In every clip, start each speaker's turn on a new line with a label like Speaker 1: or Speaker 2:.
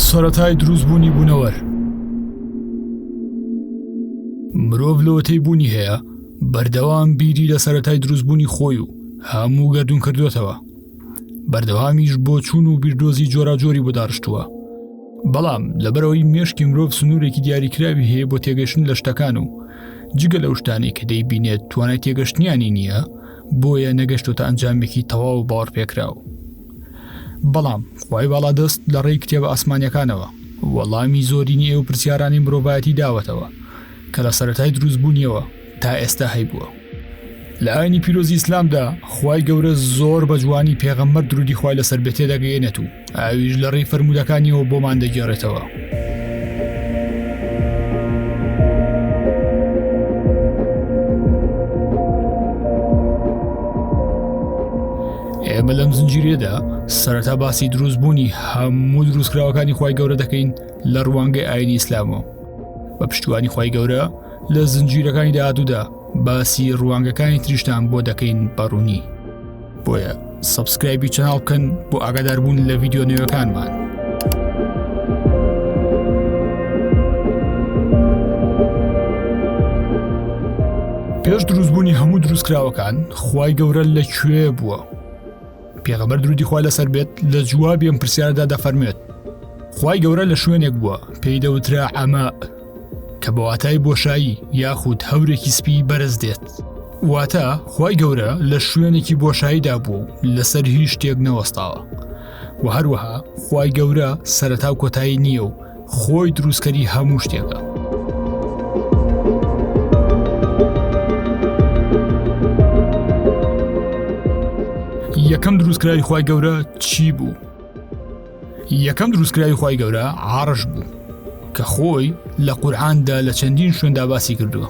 Speaker 1: سەتای دروست بوونی بوونەوەر مرۆڤ لەوەتەی بوونی هەیە بەردەوام بیری لە سەتای دروستبوونی خۆی و هەموو گردون کردوێتەوە بەردەوامیش بۆ چوون و بیردۆزی جۆراجۆری بۆ داڕشتووە بەڵام لەبەرەوەی مێشکی مرۆڤ سنوورێکی دیاریکراوی هەیە بۆ تێگەشتن لە شتەکان و جگە لەو شتانی کە دەیبینێت توانای تێگەشتنیانی نییە بۆیە نەگەشتوتە ئەنجامێکی تەواو باڕ پێکراوە بەڵام خوای باڵادەست لە ڕێی کتێبە ئاسمانیەکانەوە وەڵامی زۆرینی ئێو پرسیارانی مرۆڤایەتی داوەتەوە کە لە سەرەتای دروستبوونیەوە تا ئێستا هەیبووە لە ئاینی پیرۆزی ئیسلامدا خوای گەورە زۆر بە جوانی پێغەممەر درودی خوای لەسەر بێتێ دەگەێنێت و ئاویش لە ڕێی فرەرمودەکانیەوە بۆمان دەگێڕێتەوە ئێمە لەم زنجیرێدا سەرەتا باسی دروستبوونی هەموو دروستکراوەکانی خی گەورە دەکەین لە ڕوانگەی ئاینی ئیسلامەوە بە پشتوانی خی گەورە لە زنجیرەکانی داهاتوودا باسی ڕوانگەکانی تریشتان بۆ دەکەین بەڕوونی بۆیە سبسکرایبی چناڵ بکەن بۆ ئاگاداربوون لە ڤیددیو نوێەکانمان. پێش دروستبوونی هەموو دروستکراوەکان خی گەورە لە کوێ بووە پێغەمەر درودی خوا لەسەر بێت لە جوابیم پرسیاردا دەفەرمێت خی گەورە لە شوێنێک بووە پێی دەوترا ئەمە کە بە واتای بۆشایی یاخود هەورێکی سپی بەرز دێت واتە خی گەورە لە شوێنێکی بۆشاییدا بوو و لەسەر هیچ شتێک نەوەستاوە و هەروەها خی گەورە سەرەتا و کۆتایی نییە و خۆی دروستکەری هەموو شتێکە. یەکەم دروستکراوی خی گەورە چی بوو؟ یەکەم دروستکراوی خی گەورە عاڕش بوو کە خۆی لە قورآاندا لە چەندین شوێندا باسی کردووە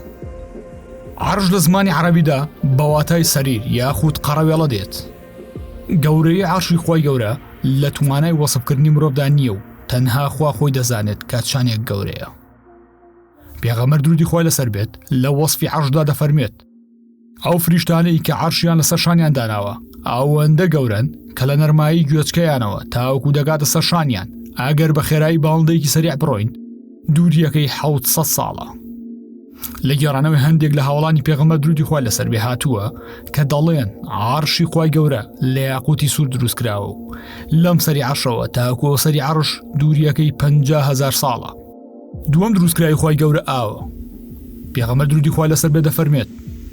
Speaker 1: عرش لە زمانی عربیدا بەواتای سەریر یاخود قەڕەوێڵە دێت گەورەی عاشی خی گەورە لە توانای وەسبکردنی مرۆڤدا نییە و تەنها خوا خۆی دەزانێت کە چانێک گەورەیە پێغەمەر درودی خۆی لەسەر بێت لە وەصفی عشدا دەفەرمێت ئەو فریشتانەی کە عەرشیان لەسەر شانیان داناوە ئەوەندە گەورەن کە لە نەرمایی گوێچکەیانەوە تاوەکو دەگاتە سەر شانیان ئەگەر بە خێرایی باڵندەیەکی سەریع بڕۆین دووریەکەی حوت سە ساڵە لە گێڕانەوەی هەندێک لە هاوڵانی پێغەمە درودی خۆی لەسەر بێ هاتووە کە دەڵێن عرشی خی گەورە لە یاقوتی سوور دروست کراوە و لەم سەری عشەوە تاکۆ سەری عرش دووریەکەی 5هزار ساڵە دووەم دروستکراوی خی گەورە ئاوە پێغەمە درودی خوا لەسەر بێ دەفەرمێت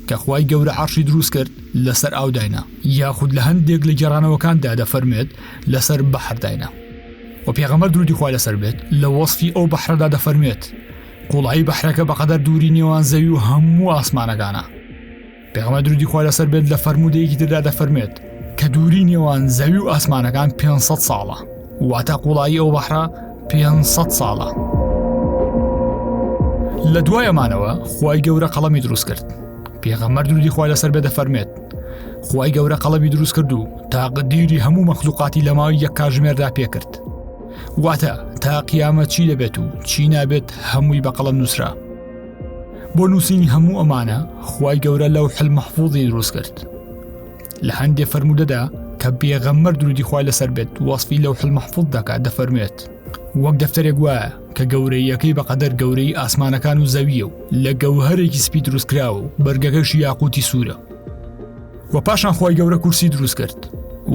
Speaker 1: کە خی گەورە عرشی دروست کرد لەسەر ئاو داینا یاخود لە هەندێک لە گێڕانەوەکاندا دەفەرمێت لەسەر بەحر داینا و پێغەمە درودی خوا لەسەر بێت لە وەصفی ئەو بەحرەدا دەفەرمێت قوڵایی بەحرەکە بەقەدەر دووری نێوان زەوی و هەموو ئاسمانەکانە پێغەمبەر درودی خوا لەسەر بێت لە فەرموودەیەکی تردا دەفەرمێت کە دووری نێوان زەوی و ئاسمانەکان 500 ساڵە واتە قوڵایی ئەو بەحرا 500 ساڵە لە دوای ئەمانەوە خی گەورە قەڵەمی دروست کرد پێغەمەر دوودی خوا لەسەر بێ دەفەرمێت خی گەورە قەڵەمی دروست کرد و تاقدیری هەموو مەخلوقاتی لە ماوەی یەک کاژمێردا پێکرد واتە تا قیامە چی دەبێت و چی نابێت هەمووی بە قەڵەم نووسرا بۆ نووسینی هەموو ئەمانە خی گەورە لەو حل مەحفوظی دروست کرد لە هەندێ فەرمودەدا کە بێغەممەر درودی خی لەسەر بێت وەصفی لەو حل مەحفوظ دەکات دەفەرمێت وەک دەفتەرێک وایە کە گەورەیەکەی بەقەدەر گەورەی ئاسمانەکان و زەویە و لە گەوهرێکی سپی دروستکراوە و بەرگەکەش یاقوتی سوورە و پاشان خی گەورە کورسی دروست کرد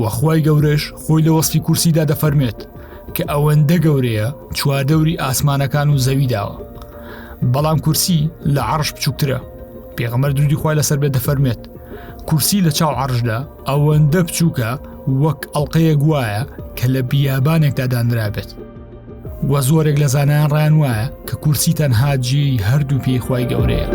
Speaker 1: وەخوای گەورەش خۆی لە وەصفی کورسیدا دەفەرمێت کە ئەوەندە گەورەیە چواردەوری ئاسمانەکان و زەوی داوە بەڵام کورسی لە عرش بچووکترە پێغەمەر درودی خۆی لەسەر بێ دەفەرمێت کورسی لە چاو عرشدا ئەوەندە بچووکە وەک ئەڵلقەیە گوایە کە لە بیابانێکدا دانرابێت وە زۆرێک لە زانایان ڕان وایە کە کورسی تەنها جی هەردوو پێی خی گەورەیە.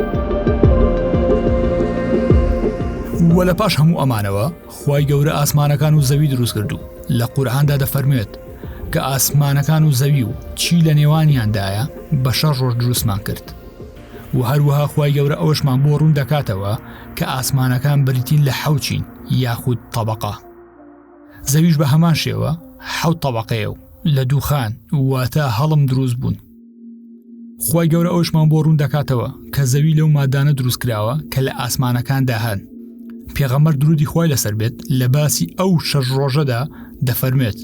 Speaker 1: وە لە پاش هەموو ئەمانەوە خوای گەورە ئاسمانەکان و زەوی دروست کرد و لە قورآاندا دەفەرموێت کە ئاسمانەکان و زەوی و چی لە نێوانیاندایە بە شەڕ ڕۆژ دروستمان کرد و هەروەها خوای گەورە ئەوشمان بۆ ڕوون دەکاتەوە کە ئاسمانەکان بریتین لە حەوچین یاخود طبقە زەویش بە هەمان شێوە حەوت طبقەیە و لە دووخان واتە هەڵم دروست بوون خی گەورە ئەوشمان بۆ ڕوون دەکاتەوە کە زەوی لەو مادانە دروست کراوە کە لە ئاسمانەکاندا هەن پێغەمەر درودی خی لەسەر بێت لە باسی ئەو شەش ڕۆژەدا دەفەرمێت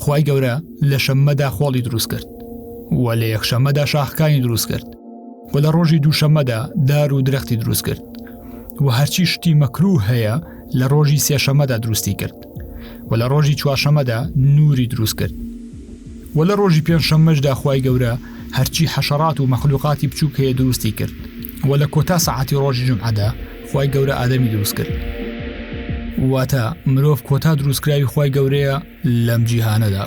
Speaker 1: خی گەورە لە شەممەدا خۆڵی دروست کرد و لە یەکشەمەدا شاخکانی دروست کرد و لە ڕۆژی دووشەمەدا دار و درەختی دروست کرد و هەرچی شتی مەکروو هەیە لە ڕۆژی سێشەمەدا دروستی کرد و لە ڕۆژی چوارشەمەدا نوری دروست کرد و لە ڕۆژی پێنجشەممەشدا خی گەورە هەرچی حەشەڕات و مەخلوقاتی بچووک هەیە دروستی کرد و لە کۆتا سەعاتی ڕۆژی جمعدا خی گەورە ئادەمی دروست کرد واتە مرۆڤ کۆتا دروستکراوی خی گەورەیە لەم جیهانەدا.